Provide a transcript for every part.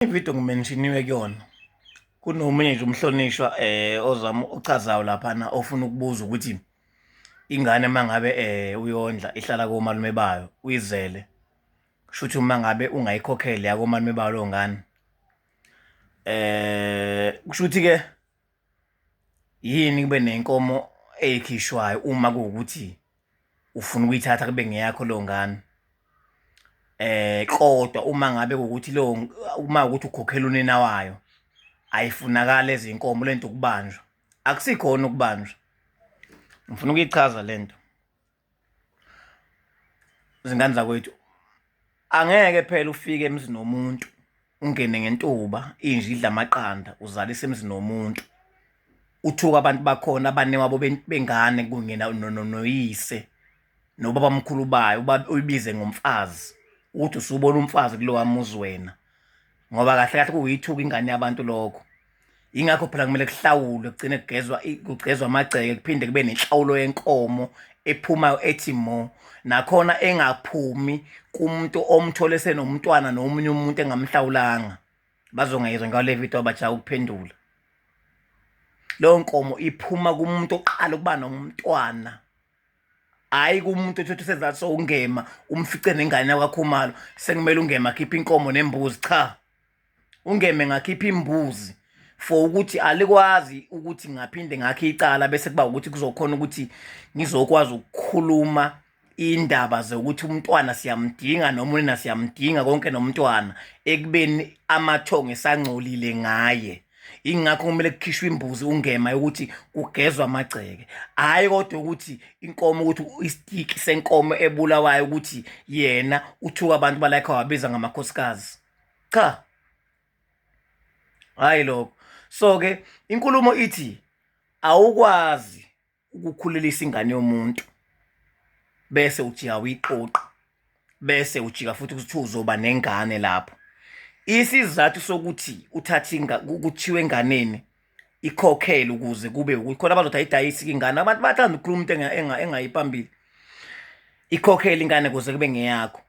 ividiyo ngimenshiniwe kuyona kunomunye nje umhlonishwa eh ozama uchazayo laphana ofuna ukubuza ukuthi ingane uma ngabe eh uyondla ihlala komalume bayo uyizele kusho ukuthi uma ngabe ungayikhokheli yakomalume bayo lo ngane eh kusho ukuthi ke yini kube nenkomo eyikhishwayo uma kuwukuthi ufuna ukuyithatha kube ngeyakho leyo ngane eh kodwa uma ngabe ukuthi leyo uma ukuthi ukhokhela unina wayo ayifunakala ezinkomo lento ukubanjwa akusikhona ukubanjwa ngifuna ukuyichaza lento izingane zakwethu Angeke phela ufike emzini womuntu ungene ngentuba inje idla amaqanda uzalise emzini womuntu uthuka abantu bakhona abane wabo bengane kunye noyise nobaba mkhulu bayo uyibize ngomfazi uthi usubona umfazi kulowa muzi wena ngoba kahle kahle kuyithuka ingane yabantu lokho ingakho phela kumele kuhlawulwe kugcine kugezwa kugcezwa amagceke kuphinde kube nenhlawulo yenkomo ephumayo ethi mo nakhona engaphumi kumuntu omthole senomntwana nomunye umuntu engamhlawulanga bazongayizwa ngale video abajaka ukuphendula leyo nkomo iphuma kumuntu oqala ukuba nomntwana hayi kumuntu ethothi sezathi sowungema umfice nengane yakwakhumalo sekumele ungema akhiphe inkomo nembuzi cha ungeme ngakhipha imbuzi for ukuthi alikwazi ukuthi ngaphinde ngakhe icala bese kuba ukuthi kuzokhona ukuthi ngizokwazi ukukhuluma indaba zokuthi umntwana siyamdinga noma unina siyamdinga konke nomntwana ekubeni amathongo esangcolile ngaye ingakho kumele kukhishwe imbuzi ungema yokuthi kugezwa amagceke hhayi kodwa ukuthi inkomo ukuthi isitiki senkomo ebulawayo ukuthi yena uthuka abantu balayikho wabiza ngamakhosikazi cha hhayi lokho so-ke inkulumo ithi awukwazi ukukhulelisa ingane yomuntu bese ujika uyiqoqa bese ujika futhi ukuthi uzoba nengane lapho isizathu sokuthi uthathe kuthiwe enganeni ikhokhele ukuze kube ukuthi khona bazothi ayidayisi ingane abantu bathanda ukukhuluma into engayiphambili ikhokhele ingane kuze kube ngeyakho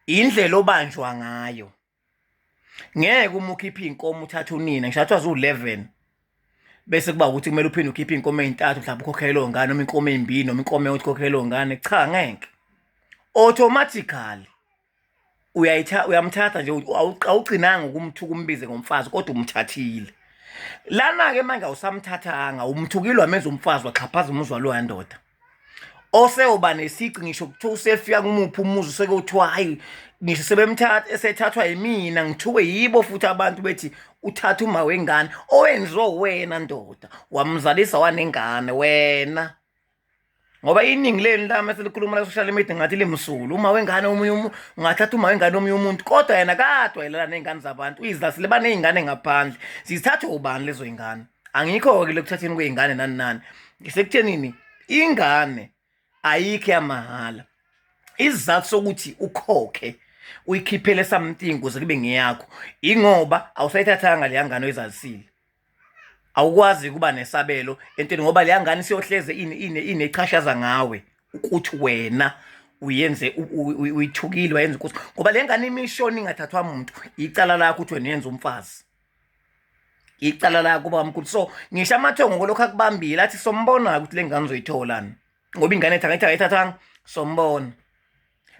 indlela obanjwa ngayo ngeke uma ukhipha iy'nkomo uthathe unina ngisho athiwa ziwu-11 bese kuba ukuthi kumele uphinde ukhiphe iy'nkomo ey'ntathu mhlawumbe ukhokhele leyo ngane noma inkomo ey'mbili noma inkomo eyothi ukhokhele leyo ngane cha ngeke automatically uyayitha uyamthatha nje awugcinanga ukumthuka umbize ngomfazi kodwa umthathile lana-ke manje awusamthathanga umthukile wamenza umfazi waxhaphaza umuzwa loya ndoda oseyoba nesici ngisho kuthiwa usefika kumuphi umuzi useke uthiwa hayi ngisho sebemthatha esethathwa yimina ngithuke yibo futhi abantu bethi uthatha uma wengane owenziwe wena ndoda wamzalisa wanengane wena ngoba iningi leni lami eselikhuluma la social media ngathi limsulu uma wengane omunye ungathatha uma wengane omunye umuntu kodwa yena kadwa yelana nezingane zabantu uyizasile banezingane ngaphandle sizithathwe ubani lezo zingane angikho-ke lokuthatheni kwey'ngane nani nani ngisekuthenini ingane ayikho yamahhala isizathu sokuthi ukhokhe uyikhiphele something kuze kube ngeyakho ingoba awusayithathanga leya ngane oyizalisile awukwazi ukuba nesabelo entweni ngoba leya ngane siyohleze ini ine inechashaza ngawe ukuthi wena uyenze uyithukile wayenza ukuthi ngoba le ngane imishoni ingathathwa muntu icala lakho ukuthi wena yenza umfazi icala lakho baba mkhulu so ngisho amathongo kolokhu akubambile athi sombona-ke ukuthi le ngane uzoyitholani ngoba ingane ethi angithi akayithathanga sombona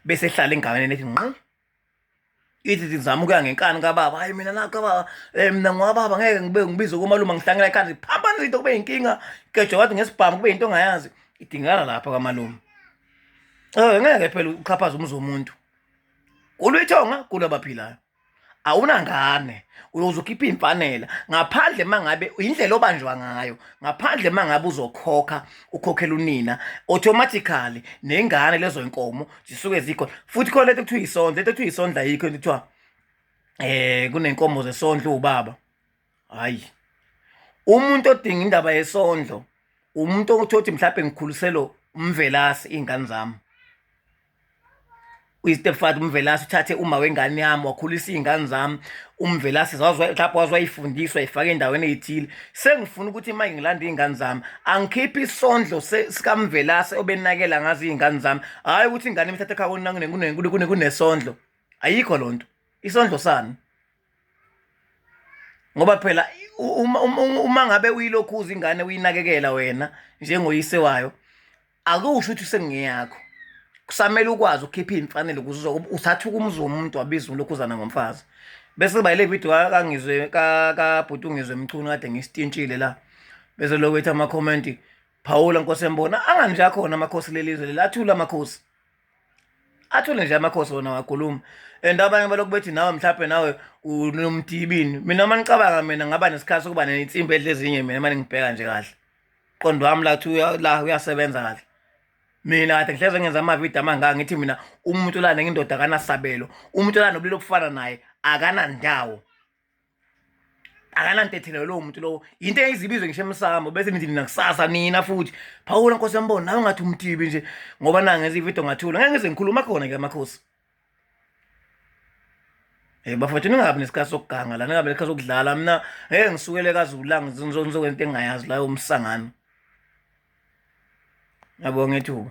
bese ehlala enganeni ethi nqi ithi ndizama ukuya ngenkani kababa hayi mina nakho kababa um eh, mna ngwababa ngeke ngibe ngibize komalume ngihlangela ekhanda ziphambanisa into kube yinkinga kejo wathi ngesibhamu kube yinto ongayazi idingakala lapha kamalume um ngeke phela uxhaphaze umuzi womuntu kulwithonga kulabaphilayo awunangane uyoze ukhiphe iy'mfanela ngaphandle uma ngabe yindlela obanjwa ngayo ngaphandle uma ngabe uzokhokha ukhokhela unina automatically nengane lezo y'nkomo zisuke zikhona futhi khona lento kuthiwa isondla into kuthiwa isondla yikho into kuthiwa um eh, kunenkomo zesondlo ubaba hhayi umuntu odinga indaba yesondlo umuntu othi othi mhlawumbe ngikhuliselo umvelasi iy'ngane zami uyistepfather umvelasi uthathe uma wengane yami wakhulisa iy'ngane zami umvelasi lapho waze wayifundiswa ifake endaweni eyithile sengifuna ukuthi uma ngilanda iy'ngane zami angikhiphe isondlo sikamvelasi obenakela ngazo iy'ngane zami hhayi ukuthi ingane imthathe ekhaya kunesondlo ayikho loo nto isondlo sani ngoba phela uma uma ngabe uyilokhuza ingane uyinakekela wena njengoyise wayo akusho ukuthi sengiyakho kusamele ukwazi ukukhipha imfanele ukuze uthathe ukumuzi womuntu wabiza ulokhuzana ngomfazi bese bayile video kangizwe ka ka bhuti ungizwe mchunu kade ngisitintshile la bese lokwethi ama comment phawula nkosi embona angani nje akhona amakhosi lelizwe lelathula amakhosi athule nje amakhosi wona wakhuluma and abanye balokhu bethi nawe mhlawumbe nawe unomdibini mina uma ngicabanga mina ngaba nesikhathi sokuba nensimbi edle ezinye mina mane ngibheka nje kahle qondo wami lathi la uyasebenza kahle mina kade ngihleze ngenza amavidiyo amangaka ngithi mina umuntu olane ngindoda akanasabelo umuntu olane nobulili obufana naye akanandawo akananto ethinayo lowo muntu lowo yinto eyizibizwe ngisho emsamo bese nithi nina kusasa nina futhi phawula nkosi yambona nawe ngathi umtibi nje ngoba nangenza ividiyo ngathula ngeke ngize ngikhuluma khona ke amakhosi Eh bafethu ningabi nesikhathi sokuganga la ningabi nesikhathi sokudlala mina hey ngisukele kazulanga ngizokwenza into engayazi la umsangano Yabonga ethuba